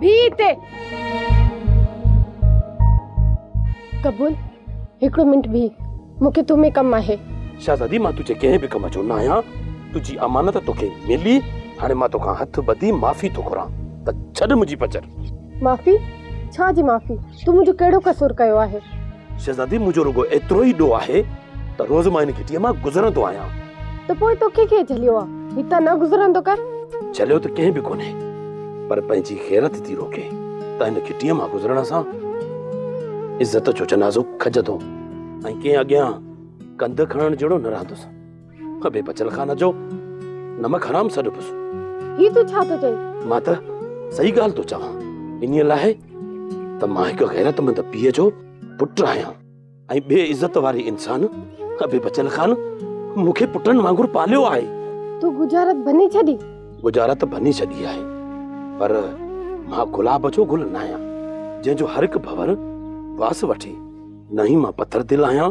بيهه اتي. قبول، هڪڙو منٽ بيهه، مون کي تو ۾ ڪم آهي. شهزادي، مان تنهنجي ڪنهن به ڪم جو نه آهيان، تنهنجي امانت توکي ملي، هاڻي مان توکان هٿ ٻڌي معافي ٿو گهران ته ڇڏ منهنجي پچر. معافي؟ ڇا جي معافي؟ تو منهنجو ڪهڙو قصور ڪيو آهي؟ شهزادي منهنجو رڳو ايترو ئي ڏوهه آهي ته روز مان هن گهٽيء مان گذرندو آهيان. ته پوء توکي ڪنهن جهليو آ؟ هتان نه گذرندو ڪر. جهليو ته ڪنهن به ڪونهي پر پنهنجي غيرت ٿي روڪي ته هن گهٽيء مان گذرڻ سان عزت جو جنازو کنجندو ۽ ڪنهن اڳيان ڪنڌ کڻڻ جهڙو نه رهندس. ابي بچل خان جو نمڪ حرام سڏ بس هي تو ڇا ٿو چئين مان ته صحيح ڳالهه ٿو چوان انهي لاء ته مان هڪ غيرتمند پيء جو پٽ آهيان ۽ بي عزت واري انسان ابي بچل خان مونکي پٽن وانگر پاليو آهي تو گجارت ڀني ڇڏي گجارت ڀني ڇڏي آهي پر مان گلاب جو گل نه آهيان جنهن جو هر هڪ ڀور واس وٺي نه ئي مان پٿر دل آهيان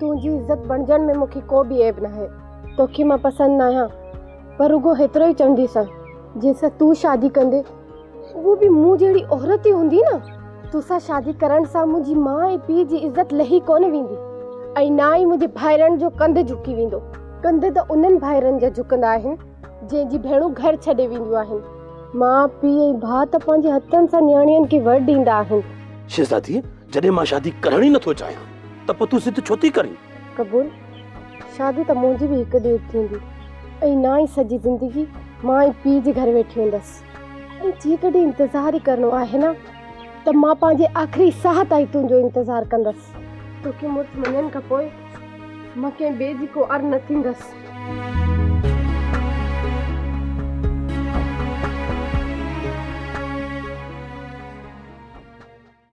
تنهنجي عزت بڻجڻ ۾ مون کي ڪو به عيب ناهي. توکي مان پسند ناهيان پر رڳو هيترو ئي چونديسان جنهن سان تون شادي ڪندين اها به مون جهڙي عورت ئي هوندي نه. توسان شادي ڪرڻ سان منهنجي ماء ۽ پيء جي عزت لهي ڪونه ويندي ۽ نه ئي منهنجي ڀائرن جو ڪنڌ جهڪي ويندو. ڪنڌ ته انهن ڀائرن جا جهڪندا آهن جنهن جي ڀيڻون گهر ڇڏي وينديون آهن. ماء، پيء ۽ ڀاء ته پنهنجي هٿن سان نياڻين کي ور ڏيندا آهن. شهزادي، جڏهن مان شادي ڪرڻ ئي نٿو چاهيان. ته پوء تون ضد ڇو ٿي ڪرين؟ قبول، شادي ته منهنجي به هڪ ڏينهن ٿيندي ۽ نه ئي سڄي زندگي ماء ۽ پيء جي گهر ويٺي هوندس ۽ جيڪڏهن انتظار ئي ڪرڻو آهي نه ته مان پنهنجي آخري ساهه تائين تنهنجو انتظار ڪندس. توکي مڙس مڃڻ کان پوء مان ڪنهن ٻئي جي ڪو عر نه ٿيندس.